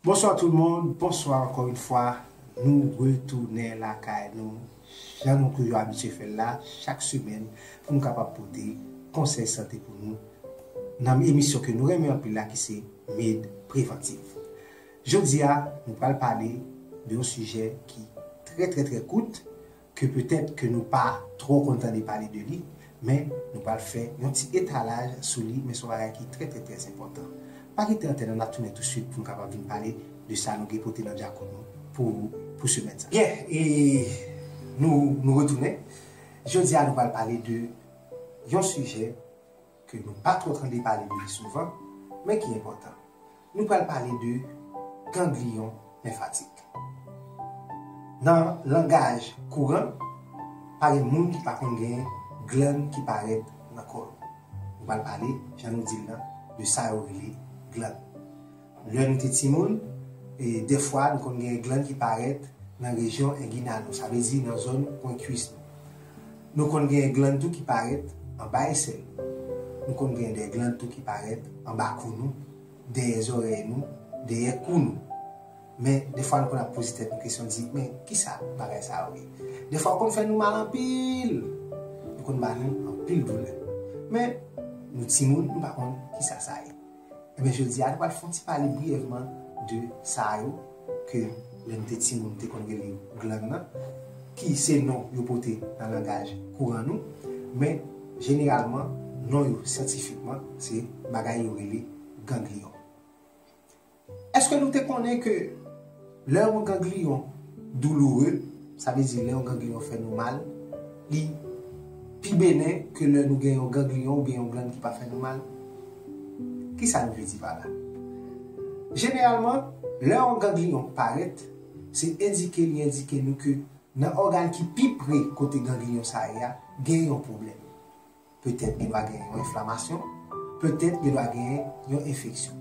Bonswa tout moun, bonswa ankò yn fwa, nou retounen lakay nou jan nou toujou abitye fèl la chak semèn pou nou kapab pote konsèy sante pou nou nan emisyon ke nou renmen anpil la ki se Med Preventive. Jodi a nou pral pale de yon sijè ki trè trè trè kout, ke petèt ke nou pa twò konn tande pale de li, men nou pral fè yon ti etalaj sou li, men son bagay ki trè trè trè enpòtan. Pa kite antèn an nap tounen tou swit poun kapab vin pale de sa nou gen pote nan djakout nou pou ou pou semèn sa. Byen e nou nou retounen, jodi a nou pral pale de yon sijè ke nou pa twò tande pale de li souvan, men ki enpòtan. Nou pral pale de gangliyon lenfatik. Nan langaj kouran, pa gen moun ki pa konn gen glann ki parèt nan kò l. Nou pral pale, jan nou di l lan, de sa yo rele glann. Lè nou te timoun, dèfwa nou konn gen glann ki parèt nan rejyon enginal nou, sa vle di nan zòn pwen kwis nou. Nou konn gen glann tou ki parèt anba esèl nou. Nou konn gen de glann tou ki parèt anba kou nou, dèyè zòrèy nou, dèyè kou nou. Men, dèfwa nou konn ap poze tèt nou kesyon di, men, ki sa bagay sa yo ye? Dèfwa yo konn fè nou mal anpil! Yo konn ba nou anpil doulè. Men, nou timoun, nou pa konn ki sa sa ye. Ebyen jodi a nou pral fè yon ti pale briyèvman de sa yo ke lè nou te timoun nou te konn rele yo glann nan ki se non yo pote nan langaj kouran nou men jeneralman non yo syantifikman se bagay yo rele gangliyon. Eske nou te konnen ke Lè yon gangliyon douloure, sa vle di lè yon gangliyon fè nou mal, li pi benen ke lè nou gen yon gangliyon oubyen yon glann ki pa fè nou mal. Kisa nou vle di pa la? Jeneralman, lè yon gangliyon parèt, se endike li endike nou ke nan ògàn ki pi pre kote gangliyon sa ye a, gen yon pwoblèm. Petèt gen dwa gen yon enflamasyon, petèt gen dwa gen yon enfeksyon.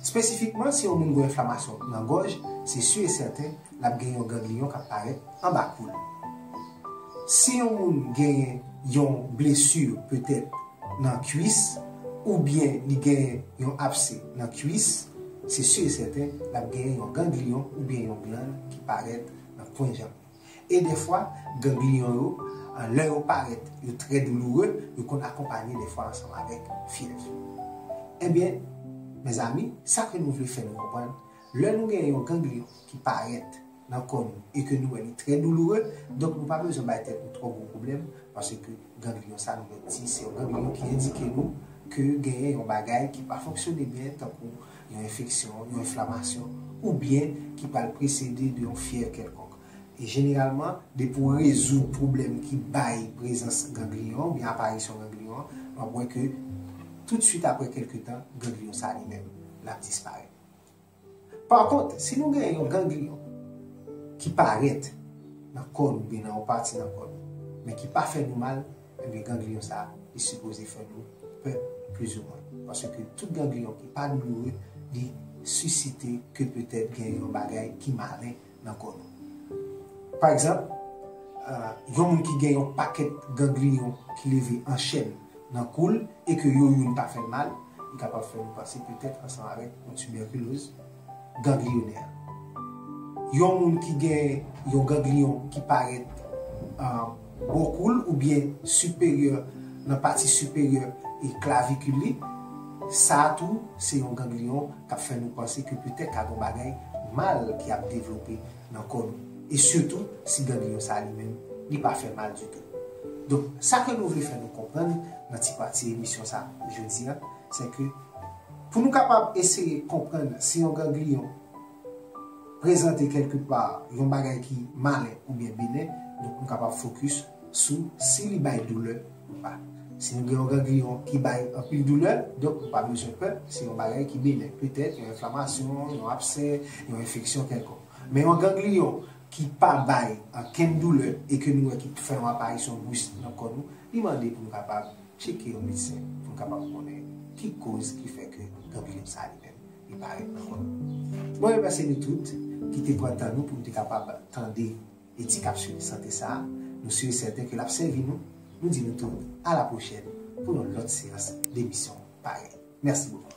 Spesifikman, si yon moun gen enflamasyon nan gòj, se si e sèten l ap gen yon gangliyon k ap parèt anba kou l. Si yon moun gen yon blesi petèt nan kuis oubyen li gen yon apse nan kuis, se si e sèten l ap gen yon gangliyon oubyen yon glann ki parèt nan pwen janm li. E dèfwa, gangliyon yo, lè yo parèt, yo trè douloure, yo konn akonpanye dèfwa ansanm avèk fyèv. Ebyen, mezanmi, sa ke nou vle fè nou konprann, lè nou gen yon gangliyon ki parèt nan kò nou e ke nou wè li trè douloure, donk nou pa bezwen bay tèt nou twò gwo pwoblèm, paske gangliyon sa nou mèt di se yon gangliyon ki endike nou ke genyen yon bagay ki pa fonksyone byen tankou yon enfeksyon, yon enflamasyon, oubyen ki pral presede de yon fyèv kèlkonk. E jeneralman, depi w rezoud pwoblèm ki bay prezans gangliyon oubyen aparisyon gangliyon an, w ap wè ke toutswit aprè kèlke tan, gangliyon sa a li menm, l ap disparèt. Pa kont, si nou gen yon gangliyon ki parèt nan kò nou oubyen nan yon pati nan kò nou, men ki pa fè nou mal, Ebyen ganglion sa li sipoze fè nou pè plis ou mwen. Paske tout ganglion ki pa douloure li sisite ke petèt gen yon bagay ki malen nan kò nou. Pa egzanp, yon moun ki gen yon pakèt ganglion ki leve an chèn nan kou l e ke yo youn pa fè l mal, li kapab fè nou panse petèt ansanm avèk yon tibèkiloz, ganglionè. Yon moun ki gen yon ganglion ki parèt bò kou l oubyen siperyè nan pati siperyè klavikil li, sa tou se yon ganglion k ap fè nou panse ke petèt ka gon bagay mal ki ap devlope nan kò nou. E sitou si ganglion sa li menm li pa fè mal ditou. Donk sa ke nou vle fè nou konprann nan ti pati emisyon sa jodi a, se ke. Pou nou kapab eseye konprann si yon gangliyon prezante kèlke pa yon bagay ki malen oubyen benen, donk nou kapab fokis sou si li bay doulè ou pa. Si nou gen yon gangliyon ki bay anpil doulè, donk nou pa bezwen pè, se yon bagay ki benen, petèt yon enflamasyon, yon absè, yon enfeksyon kèlkonk. Men yon gangliyon ki pa bay ankenn doulè e ke nou wè ki fè yon aparisyon bris nan kò nou, li mande pou nou kapab. Tcheke yon medsen pou n kapab konnen ki koz ki fè ke dan Philippe sa li menm li parèt nan kò l. Mwen remèsye nou tout ki te pran tan nou pou nou te kapab tande e ti kapsul sante sa. Nou si e sèten ke l ap sèvi nou. Nou di nou tou a la pwochèn pou yon lòt seyans demisyon parèy. Mèsi bokou.